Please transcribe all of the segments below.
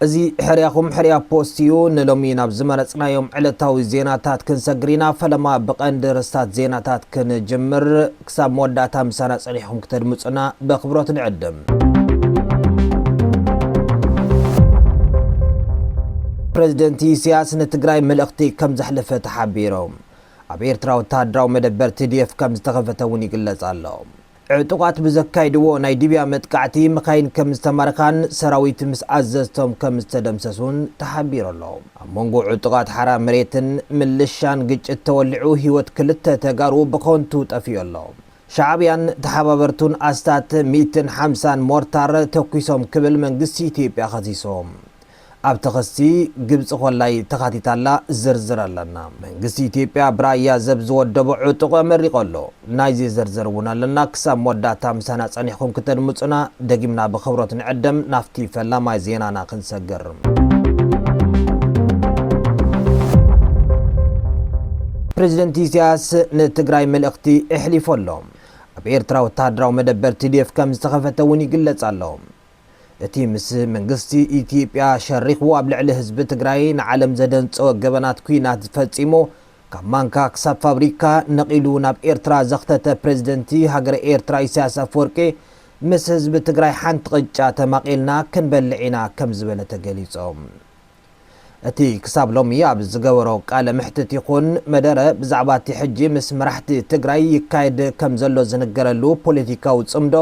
እዚ ሕርያኹም ሕርያ ፖስት እዩ። ንሎሚ ናብ ዝመረጽናዮም ዕለታዊ ዜናታት ክንሰግር ኢና። ፈለማ ብቐንዲ ርስታት ዜናታት ክንጅምር። ክሳብ መወዳእታ ምሳና ጸኒሕኩም ክተድምጹና በክብሮት ንዕድም። ፕረዚደንት ኢሳያስ ንትግራይ መልእኽቲ ከም ዘሕለፈ ተሓቢሩ። ኣብ ኤርትራ ወተሃደራዊ መደበር ቲዲኤፍ ከም ዝተኸፈተ እውን ይግለጽ ኣሎ። ዕጡቓት ብዘካይድዎ ናይ ድብያ መጥቃዕቲ መካይን ከም ዝተማረኻን ሰራዊት ምስ ኣዘዝቶም ከም ዝተደምሰሱን ተሓቢሩ ኣሎ። ኣብ መንጎ ዕጡቓት ሓራ መሬትን ምልሻን ግጭት ተወሊዑ ህይወት ክልተ ተጋሩ ብኸንቱ ጠፊኡ ኣሎ። ሻዕብያን ተሓባበርቱን ኣስታት ሚእትን ሓምሳን ሞርታር ተኲሶም ክብል መንግስቲ ኢትዮጵያ ከሲሶም። ኣብቲ ክሲ ግብጺ ኮላይ ተኻቲታ ኣላ፣ ዝርዝር ኣለና። መንግስቲ ኢትዮጵያ ብራያ ዘብ ዝወደቦ ዕጡቕ ኣመሪቑ ኣሎ። ናይ ዘይዘርዘር እውን ኣለና ክሳብ መወዳእታ ምሳና ፀኒሕኩም ክተድምፁና ደጊምና ብክብሮት ንዕደም ናፍቲ ፈላማይ ዜናና ክንሰግር። ፕረዚደንት ኢሳያስ ንትግራይ መልእኽቲ ኤሕሊፉ ኣሎ። ኣብ ኤርትራ ወተሃደራዊ መደበር TDF ከም ዝተኸፈተ እውን ይግለጽ ኣሎ። እቲ ምስ መንግስቲ ኢትዮጵያ ሸሪኹ ኣብ ልዕሊ ህዝቢ ትግራይ ንዓለም ዘደንጸወ ገበናት ኲናት ፈጺሙ ካብ ማንካ ክሳብ ፋብሪካ ነቒሉ ናብ ኤርትራ ዘኽተተ ፕረዚደንቲ ሃገረ ኤርትራ ኢሳያስ ኣፈወርቂ ምስ ህዝቢ ትግራይ ሓንቲ ቅጫ ተማቒልና ክንበልዕ ኢና ከምዝበለ ተገሊጾም። እቲ ክሳብ ሎሚ ኣብ ዝገበሮ ቃለ መሕትት ይኹን መደረ ብዛዕባ እቲ ሕጂ ምስ መራሕቲ ትግራይ ይካየድ ከም ዘሎ ዝንገረሉ ፖለቲካዊ ጽምዶ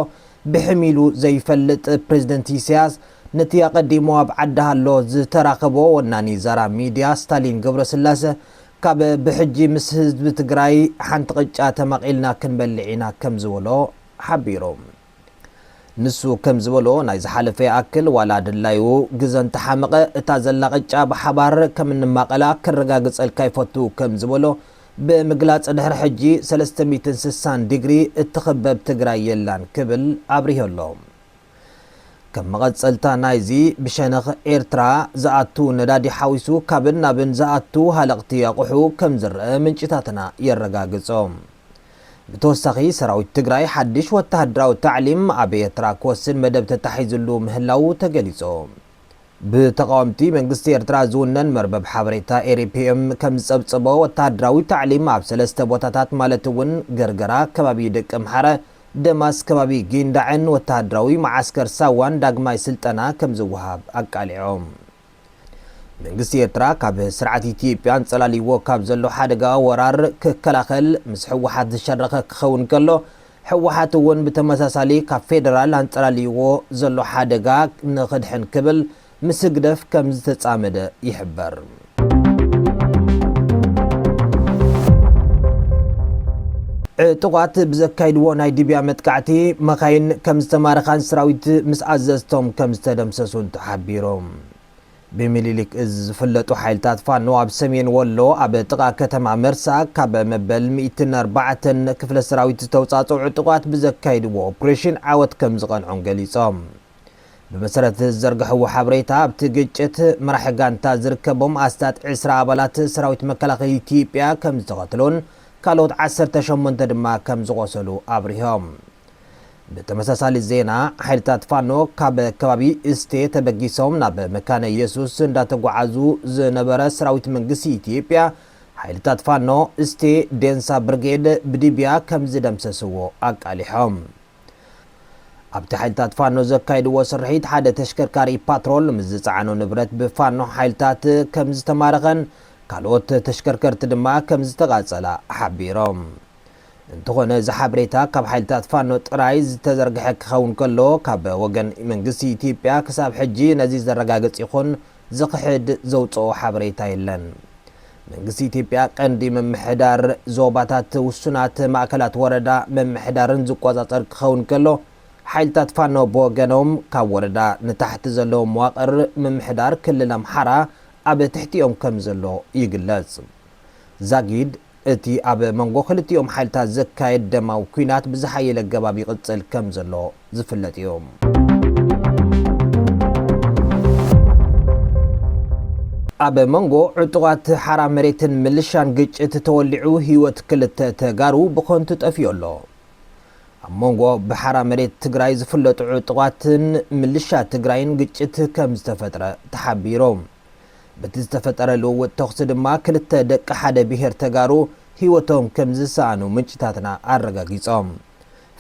ብሕም ኢሉ ዘይፈልጥ ፕረዚደንት ኢሳያስ ነቲ ኣቐዲሙ ኣብ ዓዲ-ሃሎ ዝተራኸቦ ወናኒ ዛራ ሚድያ ስታሊን ገብረስላሰ ካብ ብሕጂ ምስ ህዝቢ ትግራይ ሓንቲ ቅጫ ተማቒልና ክንበልዕ ኢና ከም ዝበሎ ሓቢሩ። ንሱ ከም ዝበሎ ናይ ዝሓለፈ ይኣክል ዋላ ድላዩ ግዘ እንተሓመቐ እታ ዘላ ቅጫ ብሓባር ከም እንማቐላ ከረጋግፀልካ ይፈቱ ከም ዝበሎ ብምግላፅ ድሕሪ ሕጂ ሰለስተ ሚእትን ስሳን ዲግሪ እትኽበብ ትግራይ የላን ክብል ኣብሪሁ ኣሎ። ከም መቐፀልታ ናይዚ ብሸነኽ ኤርትራ ዝኣቱ ነዳዲ ሓዊሱ ካብን ናብን ዝኣቱ ሃለቕቲ ኣቑሑ ከም ዝረኣ ምንጭታትና የረጋግፆ። ብተወሳኺ ሰራዊት ትግራይ ሓድሽ ወተሃደራዊ ታዕሊም ኣብ ኤርትራ ክወስድ መደብ ተታሒዝሉ ምህላዉ ተገሊጹ። ብተቓወምቲ መንግስቲ ኤርትራ ዝውነን መርበብ ሓበሬታ ኤሪፒኤም ከምዝጸብጸቦ፣ ወተሃደራዊ ታዕሊም ኣብ ሰለስተ ቦታታት ማለት'ውን ገርገራ ከባቢ ደቀምሓረ፣ ደማስ ከባቢ ጊንዳዕን ወተሃደራዊ መዓስከር ሳዋን ዳግማይ ስልጠና ከምዝወሃብ ኣቃሊዖም። መንግስቲ ኤርትራ ካብ ስርዓት ኢትዮጵያ ኣንጸላልይዎ ካብ ዘሎ ሓደጋ ወራር ክከላኸል ምስ ህወሓት ዝሸረኸ ክኸውን ከሎ፣ ህወሓት እውን ብተመሳሳሊ ካብ ፌደራል ኣንጸላልይዎ ዘሎ ሓደጋ ንኽድሕን ክብል ምስ ህግደፍ ከም ዝተጻመደ ይሕበር። ዕጡቓት ብዘካይድዎ ናይ ድብያ መጥቃዕቲ መኻይን ከም ዝተማረኻን ሰራዊት ምስ ኣዘዝቶም ከም ዝተደምሰሱን ሓቢሮም። ብሚኒሊክ እዝ ዝፍለጡ ሓይልታት ፋኖ ኣብ ሰሜን ወሎ ኣብ ጥቓ ከተማ መርሳ ካብ መበል ሚእትን ኣርባዕተን ክፍለ ሰራዊት ዝተውፃፅዑ ዕጡቓት ብዘካይድዎ ኦፕሬሽን ዓወት ከምዝቐንዖም ገሊፆም። ብመሰረት ዝዘርግሐዎ ሓበሬታ ኣብቲ ግጭት መራሒ ጋንታ ዝርከቦም ኣስታት ዕስራ ኣባላት ሰራዊት መከላኸሊ ኢትዮጵያ ከምዝተቐትሉን ካልኦት ዓሰርተ ሸሞንተ ድማ ከምዝቖሰሉ ኣብሪሆም። ብተመሳሳሊ ዜና ሓይልታት ፋኖ ካብ ከባቢ እስቴ ተበጊሶም ናብ መካነ ኢየሱስ እንዳተጓዓዙ ዝነበረ ሰራዊት መንግስቲ ኢትዮጵያ ሓይልታት ፋኖ እስቴ ዴንሳ ብርጌድ ብድብያ ከምዝደምሰስዎ ኣቃሊሖም። ኣብቲ ሓይልታት ፋኖ ዘካይድዎ ስርሒት ሓደ ተሽከርካሪ ፓትሮል ምስ ዝፀዓኖ ንብረት ብፋኖ ሓይልታት ከምዝተማረኸን ካልኦት ተሽከርከርቲ ድማ ከምዝተቓፀላ ሓቢሮም። እንተኾነ እዚ ሓበሬታ ካብ ሓይልታት ፋኖ ጥራይ ዝተዘርግሐ ክኸውን ከሎ ካብ ወገን መንግስቲ ኢትዮጵያ ክሳብ ሕጂ ነዚ ዘረጋግጽ ይኹን ዝኽሕድ ዘውጽኦ ሓበሬታ የለን። መንግስቲ ኢትዮጵያ ቀንዲ ምምሕዳር ዞባታት ውሱናት ማእከላት ወረዳ ምምሕዳርን ዝቆጻጸር ክኸውን ከሎ ሓይልታት ፋኖ ብወገኖም ካብ ወረዳ ንታሕቲ ዘሎ መዋቕር ምምሕዳር ክልል ኣምሓራ ኣብ ትሕቲኦም ከምዘሎ ይግለጽ። ዛጊድ እቲ ኣብ መንጎ ክልቲኦም ሓይልታት ዝካየድ ደማዊ ኲናት ብዝሓየለ ኣገባብ ይቕጽል ከም ዘሎ ዝፍለጥ እዩ። ኣብ መንጎ ዕጡቓት ሓራ መሬትን ምልሻን ግጭት ተወሊዑ ህይወት ክልተ ተጋሩ ብኸንቱ ጠፊኡ ኣሎ። ኣብ መንጎ ብሓራ መሬት ትግራይ ዝፍለጡ ዕጡቓትን ምልሻ ትግራይን ግጭት ከም ዝተፈጥረ ተሓቢሩ። በቲ ዝተፈጠረ ልውውጥ ተኹሲ ድማ ክልተ ደቂ ሓደ ብሄር ተጋሩ ህይወቶም ከምዝሰኣኑ ምንጭታትና ኣረጋጊፆም።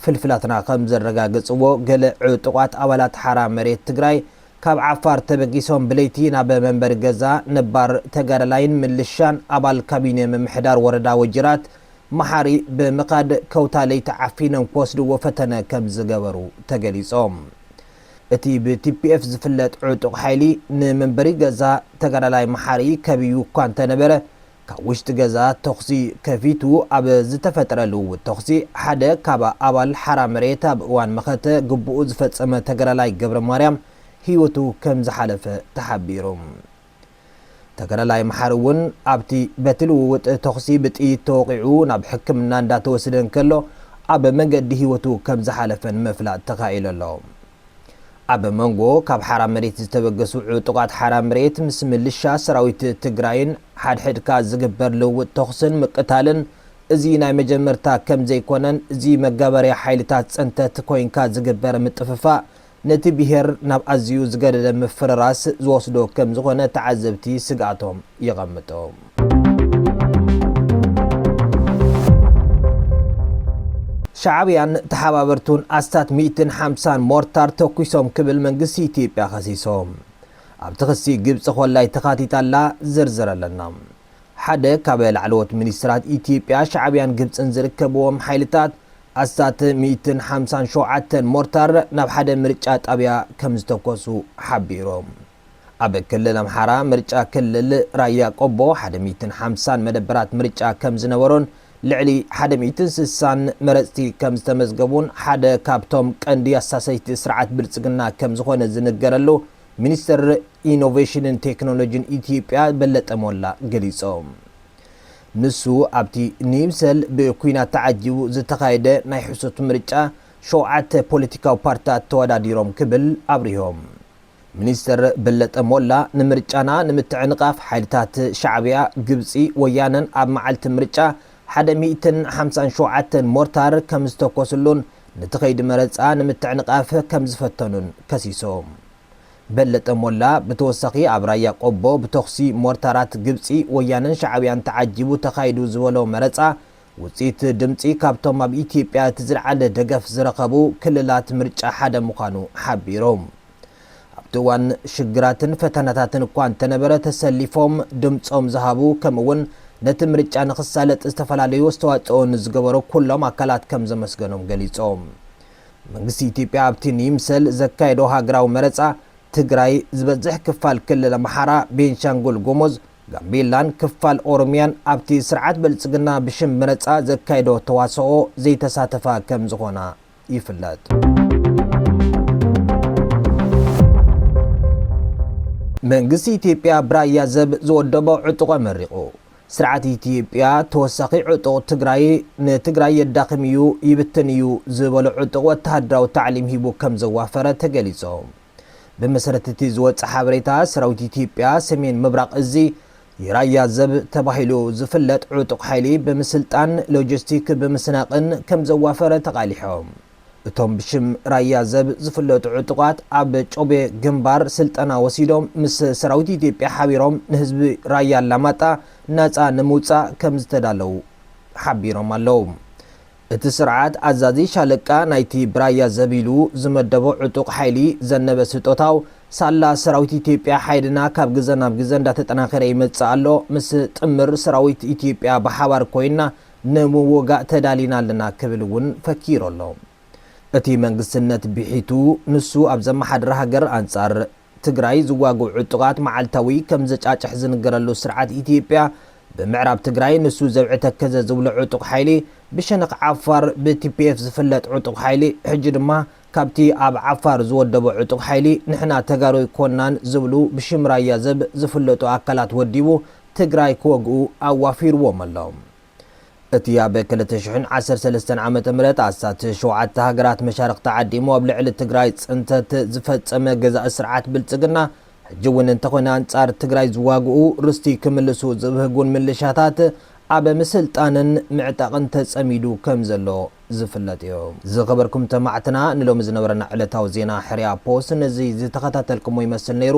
ፍልፍላትና ከምዘረጋገፅዎ ገለ ዕጡቓት ኣባላት ሓራ መሬት ትግራይ ካብ ዓፋር ተበጊሶም ብለይቲ ናብ መንበሪ ገዛ ነባር ተጋዳላይን ምልሻን ኣባል ካቢኔ ምምሕዳር ወረዳ ወጅራት መሓሪ ብምኻድ ከውታ ለይቲ ዓፊኖም ክወስድዎ ፈተነ ከምዝገበሩ ተገሊፆም። እቲ ብ tpf ዝፍለጥ ዕጡቕ ሓይሊ ንመንበሪ ገዛ ተጋዳላይ መሓሪ ከቢቡ እኳ እንተነበረ፣ ካብ ውሽጢ ገዛ ተኹሲ ከፊቱ። ኣብ ዝተፈጥረ ልውውጥ ተኹሲ ሓደ ካብ ኣባል ሓራ መሬት ኣብ እዋን መኸተ ግቡኡ ዝፈጸመ ተጋዳላይ ገብረማርያም ህይወቱ ከምዝሓለፈ ተሓቢሩ። ተጋዳላይ መሓሪ እውን ኣብቲ በቲ ልውውጥ ተኹሲ ብጥይት ተወቒዑ ናብ ሕክምና እንዳተወስደ እንከሎ ኣብ መንገዲ ህይወቱ ከም ዝሓለፈን ምፍላጥ ተኻኢሉ ኣሎ። ኣብ መንጎ ካብ ሓራ መሬት ዝተበገሱ ዕጡቓት ሓራ መሬት ምስ ምልሻ ሰራዊት ትግራይን ሓድሕድካ ዝግበር ልውውጥ ተኹስን ምቅታልን እዚ ናይ መጀመርታ ከም ዘይኮነን እዚ መጋበርያ ሓይልታት ፅንተት ኮይንካ ዝግበር ምጥፍፋእ ነቲ ብሄር ናብ ኣዝዩ ዝገደደ ምፍርራስ ዝወስዶ ከም ዝኾነ ተዓዘብቲ ስግኣቶም የቐምጡ። ሻዕብያን ተሓባበርቱን ኣስታት ሚእትን ሓምሳን ሞርታር ተኩሶም ክብል መንግስቲ ኢትዮጵያ ከሲሱ። ኣብቲ ክሲ ግብጺ ኮላይ ተኻቲታ ኣላ፣ ዝርዝር ኣለና። ሓደ ካብ ላዕለዎት ሚኒስትራት ኢትዮጵያ ሻዕብያን ግብጽን ዝርከብዎም ሓይልታት ኣስታት ሚእትን ሓምሳን ሸውዓተን ሞርታር ናብ ሓደ ምርጫ ጣብያ ከምዝተኮሱ ሓቢሮም። ኣብ ክልል ኣምሓራ ምርጫ ክልል ራያ ቆቦ ሓደ ሚእትን ሓምሳን መደበራት ምርጫ ከምዝነበሮን ልዕሊ ሓደ ሚእትን ስሳን መረፅቲ ከምዝተመዝገቡን ሓደ ካብቶም ቀንዲ ኣሳሰይቲ ስርዓት ብልፅግና ከምዝኾነ ዝንገረሉ ሚኒስትር ኢኖቬሽንን ቴክኖሎጂን ኢትዮጵያ በለጠ ሞላ ገሊፆም። ንሱ ኣብቲ ንይምሰል ብኲናት ተዓጂቡ ዝተኻየደ ናይ ሕሶት ምርጫ ሸውዓተ ፖለቲካዊ ፓርትታት ተወዳዲሮም ክብል ኣብሪሆ። ሚኒስተር በለጠ ሞላ ንምርጫና ንምትዕንቓፍ ሓይልታት ሻዕብያ፣ ግብጺ፣ ወያነን ኣብ መዓልቲ ምርጫ ሓደ ሚእትን ሓምሳን ሸውዓተን ሞርታር ከምዝተኮስሉን ነቲ ከይዲ መረጻ ንምትዕንቓፍ ከምዝፈተኑን ከሲሶ። በለጠ ሞላ ብተወሳኺ ኣብ ራያ ቆቦ ብተኹሲ ሞርታራት ግብፂ፣ ወያነን ሻዕብያን ተዓጂቡ ተኻይዱ ዝበሎ መረፃ ውፅኢት ድምፂ ካብቶም ኣብ ኢትዮጵያ እቲ ዝልዓለ ደገፍ ዝረኸቡ ክልላት ምርጫ ሓደ ምዃኑ ሓቢሩ። ኣብቲ እዋን ሽግራትን ፈተናታትን እኳ እንተነበረ ተሰሊፎም ድምፆም ዝሃቡ ከምኡ እውን ነቲ ምርጫ ንኽሳለጥ ዝተፈላለዩ ኣስተዋፅኦ ንዝገበሩ ኩሎም ኣካላት ከምዘመስገኖም ገሊፆም። መንግስቲ ኢትዮጵያ ኣብቲ ንይምሰል ዘካየዶ ሃገራዊ መረፃ ትግራይ፣ ዝበዝሕ ክፋል ክልል ኣምሓራ፣ ቤንሻንጉል ጉሙዝ፣ ጋምቤላን ክፋል ኦሮሚያን ኣብቲ ስርዓት ብልፅግና ብሽም መረፃ ዘካይዶ ተዋስኦ ዘይተሳተፋ ከምዝኾና ይፍለጥ። መንግስቲ ኢትዮጵያ ብራያ ዘብ ዝወደቦ ዕጡቕ ኣመሪቑ። ስርዓት ኢትዮጵያ ተወሳኺ ዕጡቕ ትግራይ ንትግራይ የዳኽም እዩ ይብትን እዩ ዝበሎ ዕጡቕ ወተሃደራዊ ታዕሊም ሂቡ ከምዘዋፈረ ተገሊፆ። ብመሰረት እቲ ዝወፀ ሓበሬታ ሰራዊት ኢትዮጵያ ሰሜን ምብራቕ እዚ የራያ ዘብ ተባሂሉ ዝፍለጥ ዕጡቕ ሓይሊ ብምስልጣን፣ ሎጂስቲክ ብምስናቕን ከምዘዋፈረ ተቓሊሖም። እቶም ብሽም ራያ ዘብ ዝፍለጡ ዕጡቓት ኣብ ጮቤ ግንባር ስልጠና ወሲዶም ምስ ሰራዊት ኢትዮጵያ ሓቢሮም ንህዝቢ ራያ ኣላማጣ ናፃ ንምውፃእ ከምዝተዳለው ሓቢሮም ኣለው። እቲ ስርዓት ኣዛዚ ሻለቃ ናይቲ ብራያ ዘብ ኢሉ ዝመደቦ ዕጡቕ ሓይሊ ዘነበ ስጦታው ሳላ ሰራዊት ኢትዮጵያ ሓይልና ካብ ግዘ ናብ ግዘ እንዳተጠናኸረ ይመፅእ ኣሎ ምስ ጥምር ሰራዊት ኢትዮጵያ ብሓባር ኮይንና ንምውጋእ ተዳሊና ኣለና ክብል እውን ፈኪሩ ኣሎ። እቲ መንግስትነት ብሒቱ ንሱ ኣብ ዘመሓድራ ሃገር ኣንፃር ትግራይ ዝዋግኡ ዕጡቓት መዓልታዊ ከም ዘጫጭሕ ዝንገረሉ ስርዓት ኢትዮጵያ ብምዕራብ ትግራይ ንሱ ዘብዒ ተከዘ ዝብሎ ዕጡቕ ሓይሊ ብሸነኽ ዓፋር ብ tpf ዝፍለጥ ዕጡቕ ሓይሊ ሕጂ ድማ ካብቲ ኣብ ዓፋር ዝወደቦ ዕጡቕ ሓይሊ ንሕና ተጋሩ ኣይኮናን ዝብሉ ብሽም ራያ ዘብ ዝፍለጡ ኣካላት ወዲቡ ትግራይ ክወግኡ ኣዋፊርዎም ኣሎ። እቲ ኣብ ክልተ ሽሕን ዓሰርተ ሰለስተን ዓመተ ምህረት ኣስታት ሸውዓተ ሃገራት መሻርኽቲ ዓዲሙ ኣብ ልዕሊ ትግራይ ፅንተት ዝፈፀመ ገዛኢ ስርዓት ብልፅግና ሕጂ እውን እንተኾነ ኣንፃር ትግራይ ዝዋግኡ ርስቲ ክምልሱ ዝብህጉን ምልሻታት ኣብ ምስልጣንን ምዕጣቕን ተፀሚዱ ከም ዘሎ ዝፍለጥ እዩ። ዝኸበርኩም ተማዕትና ንሎሚ ዝነበረና ዕለታዊ ዜና ሕርያ ፖስት ነዚ ዝተኸታተልኩሞ ይመስል ነይሩ።